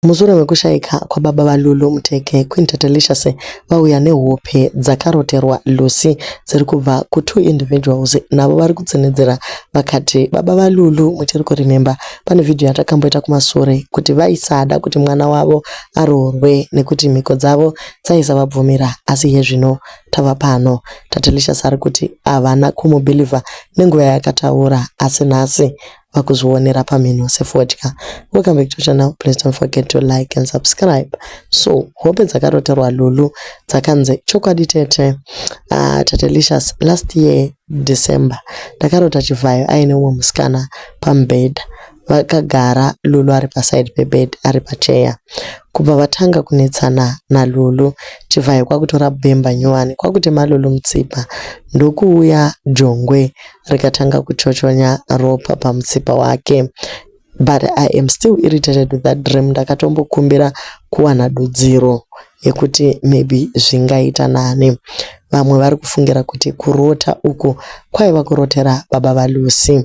Mushure mekushaika kwababa vaLulu, Muteke, Queen Tatelicious vauya nehope dzakaroterwa Lucy dziri kubva kutwo individuals navo vari kutsinhidzira vakati, Baba vaLulu muchiri kuremember pane vhidhiyo yatakamboita kumasure kuti vaisada kuti mwana wavo aroorwe nekuti mhiko dzavo dzaisavabvumira asi iye zvino tava pano. Tatelicious ari kuti havana kumubeliever nenguva yaakataura asi nhasi vakuzvionera pamhino sefodya welcome back to channel please don't forget to like and subscribe so hope dzakaroterwa lulu dzakanzi chokwadi tete uh, ah, tatelicious last year december ndakarota chivhayo aine umwe musikana pamubhedha vakagara lulu ari paside pebed ari pacheya kubva vatanga kunetsana nalulu chivhayo kwakutora bemba nyowani kwakutema lulu mutsipa ndokuuya jongwe rikatanga kuchochonya ropa pamutsipa wake but i am still irritated with that dream ndakatombokumbira kuwana dudziro yekuti maybe zvingaita nani vamwe vari kufungira kuti kurota uku kwaiva kurotera baba valucy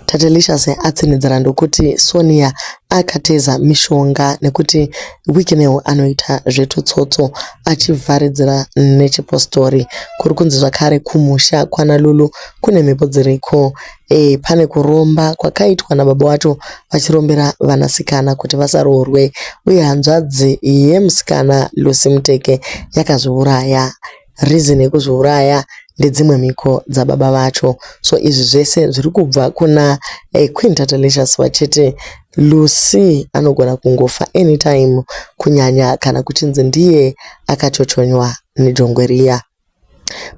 tatelicious atsinhidzira ndokuti sonia akateza mishonga nekuti Wicknell anoita zvetutsotso achivharidzira nechipositori. Kuri kunzi zvakare kumusha kwana Lulu kune mhepo dziriko. Eh, pane kuromba kwakaitwa nababa wacho vachirombera vanasikana kuti vasaroorwe uye hanzvadzi yemusikana Lucy Muteke yakazviuraya. reason yekuzviuraya ndedzimwe mhiko dzababa vacho so izvi zvese zviri kubva kuna eh, queen tatalicious vachiti lucy anogona kungofa anytime kunyanya kana kuchinzi ndiye akachochonywa nejongwe riya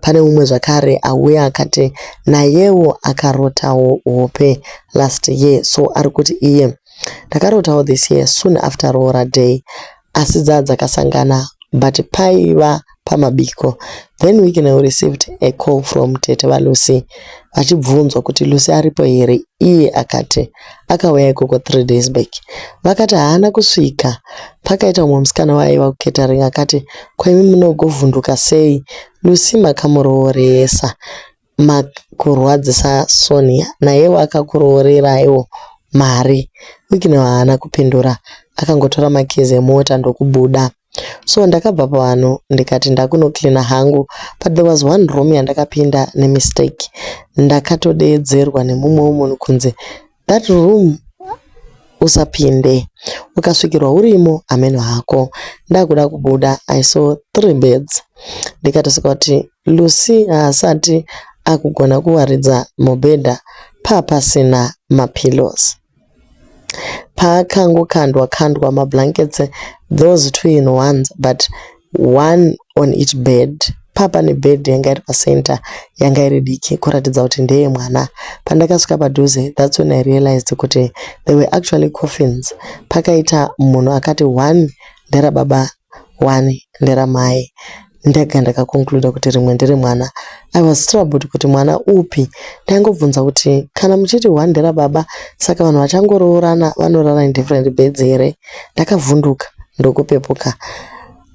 pane umwe zvakare auya akati nayewo akarotawo hope last year so ari kuti iye ndakarotawo this year soon after roora day asi dzaa dzakasangana but paiva pamabiko then Wicknell received a call from tete vaLucy vachibvunzwa kuti Lucy aripo here iye akati akauya ikoko three days back. Vakati haana kusvika. Pakaita umwe musikana waaiva kucatering akati ko imi munogovhunduka sei Lucy makamurooresa. Mark kurwadzisa Sonia nayewo akakuroorereiwo mari. Wicknell haana kupindura akangotora makeys emota ndokubuda. So ndakabva pavanhu ndikati ndakunocleaner hangu but there was one room yandakapinda nemistake ndakatodeedzerwa nemumwewo munhu kunzi That room usapinde ukasvikirwa urimo hameno hako ndakuda kubuda i saw three beds ndikatoseka kuti lucy haasati akugona kuwaridza mubhedha paa pasina mapillows paakangokandwa kandwa mablankets those two in ones but one on each bed paa pane bed yanga iri pacenter yanga iri diki kuratidza kuti ndeye mwana. Pandakasvika padhuze that's when I realised kuti there were actually coffins pakaita munhu akati one ndera baba one ndera mai ndega ndaka concluder kuti rimwe ndere mwana. I was troubled kuti mwana upi ndaingobvunza kuti kana muchiti one ndera baba saka vanhu vachangoroorana vanorara in different beds here. Ndakavhunduka ndokupepuka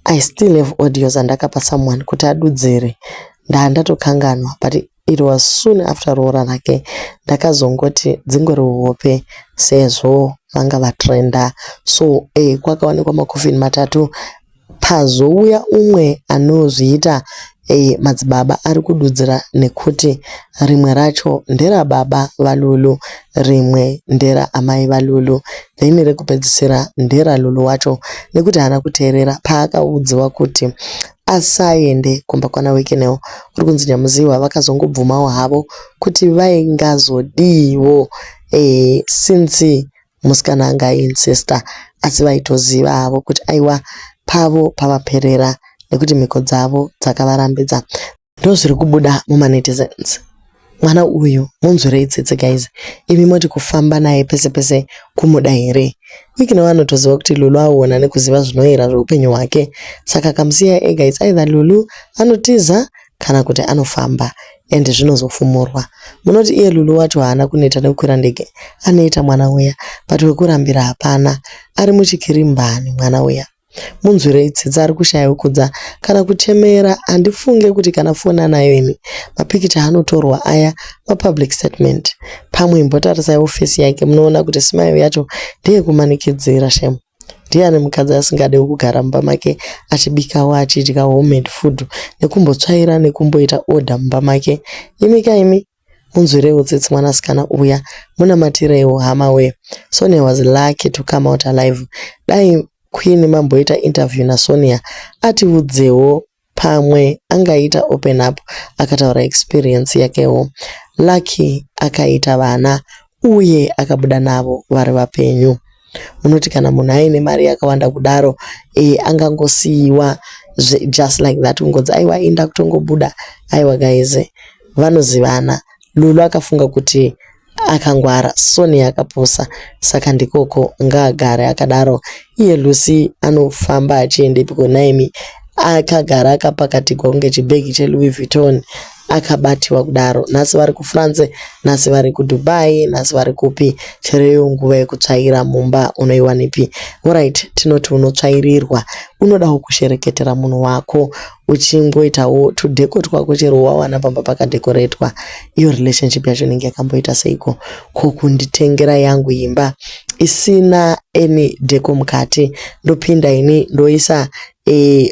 I still have audios andakapa someone kuti adudzire ndaandatokanganwa but it was soon after roora rake ndakazongoti dzingori hope sezvo vanga vatrenda so eh kwakawanikwa makofini matatu Pazouya umwe anozviita a madzibaba ari kududzira nekuti rimwe racho ndera baba vaLulu rimwe ndera amai vaLulu then rekupedzisira ndera Lulu wacho nekuti haana kuteerera paakaudziwa kuti asaende kumba kwana Wicknell kuri kunzi Nyamuziwa vakazongobvumawo havo kuti vaingazodiiwo e since musikana anga ayi incesta asi vaitoziva havo kuti aiwa pavo pavaperera nekuti mhiko dzavo dzakavarambidza ndozviri kubuda mumanetizens mwana uyu munzwirei tsitsi guys imi moti kufamba naye pese pese kumuda here wikina vanotoziva kuti lulu aona nekuziva zvinoyera zveupenyu hwake saka kamusiya ega its either lulu anotiza kana kuti anofamba and zvinozofumurwa. Munoti iye Lulu wacho haana kuneta nekukwira ndege anoita mwana uya but wekurambira hapana ari muchikirimbani mwana uya. Munzwirei tsitsi ari kushaya wekudza kana kuchemera handifunge kuti kana foni anayo ini mapikicha anotorwa aya mapublic statement pamwe imbotarisai office yake munoona kuti smile yacho ndeye kumanikidzira shame. Ndiani mukadzi asingadewo kugara mumba make achibikawo achidya homemade food nekumbotsvaira nekumboita order mumba make. Imika imi munzwireiwo tsitsi mwanasikana uya munamatireiwo hamawee. Sonia was lucky to come out alive. Dai Queen mamboita interview naSonia atiudzewo pamwe angaita open up akataura experience yakewo. Lucky akaita vana uye akabuda navo vari vapenyu. Munoti kana munhu aine mari yakawanda kudaro eh, angangosiiwa just like that kungonzi aiwa inda kutongobuda. Aiwa guys, vanozivana. Lulu akafunga kuti Akangwara Sonia akapusa saka ndikoko ngaagare akadaro iye Lucy anofamba achiendepiko nhaimi akagara akapakatigwa kunge chibhegi cheLouis Vuitton akabatiwa kudaro nhasi vari kuFrance nhasi vari kuDubai nhasi vari kupi chero iyo nguva yekutsvaira mumba unoiwanipi horait tinoti unotsvairirwa unodawo kushereketera munhu wako uchingoitawo tudheko twako chero wawana pamba pakadhekoretwa iyo relationship yacho inenge yakamboita seiko ko kunditengera yangu imba isina any dheko mukati ndopinda ini ndoisa e,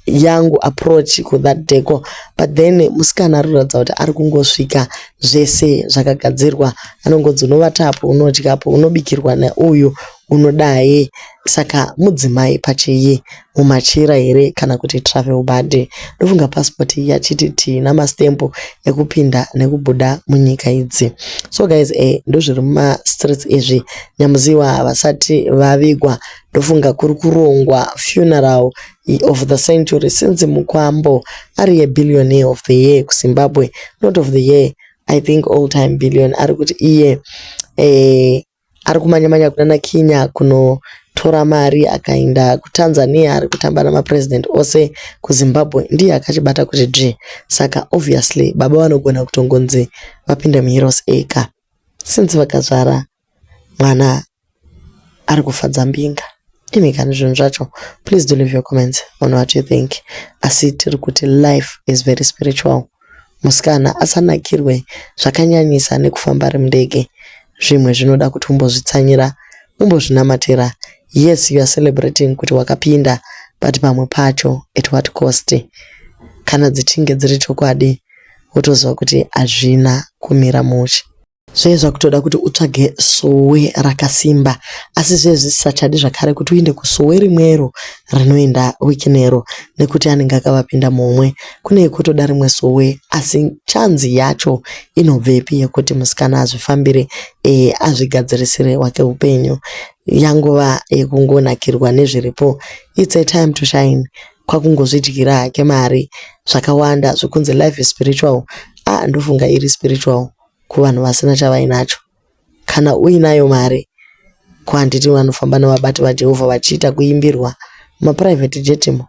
yangu approach kuthat dheko but then musikana arikuratidza kuti ari kungosvika zvese zvakagadzirwa anongonzi unovatapo unodyapo unobikirwa neuyu unodai saka mudzimai pachiyi mumachira here kana kuti travel body ndofunga passport iya chiti tii namastamp ekupinda nekubuda munyika idzi so guys eh, ndozviri mumastreets izvi nyamuziwa havasati vavigwa ndofunga kuri kurongwa funeral of the century since mukwambo ari yebillionaire of the year kuzimbabwe not of the year i think all time billion ari kuti iye eh, Ari kumanya manya kunana Kinya kunotora mari akaenda kuTanzania ari kutamba nama president ose kuZimbabwe ndiye akachibata kuti dzvee saka obviously baba vanogona kutongonzi vapinde muHeroes Acre since vakazvara mwana ari kufadza mbinga. Imi kani zvinhu zvacho please do leave your comments on what you think asi tiri kuti life is very spiritual. musikana asanakirwe zvakanyanyisa nekufamba ari mundege zvimwe zvinoda kuti umbozvitsanyira umbozvinamatira yes you are celebrating kuti wakapinda but pamwe pacho at what cost kana dzichinge dziri chokwadi wotoziva kuti hazvina kumira mushe. Zvaive zvakutoda kuti utsvage sowe rakasimba asi zviye zvisisachadi zvakare kuti uinde kusowe rimwero rinoenda wikinero nekuti anenge akavapinda mumwe. Kune yekutoda rimwe sowe asi chanzi yacho inobvepi yekuti musikana azvifambire ee azvigadzirisire wake upenyu. Yangova yekungonakirwa nezviripo. It's a time to shine. Kwakungozvidyira hake mari zvakawanda zvekunzi life is spiritual. Ah ndofunga iri spiritual. kuvanhu vasina chavainacho. Kana uinayo mari, ko handiti vanofamba nevabati vaJehovha vachiita kuimbirwa mumaprivate jet mo?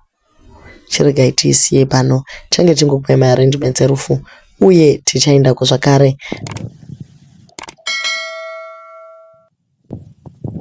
Chiregai tiisiyei pano, tichange tichingokupai maarrangements erufu uye tichaendako zvakare.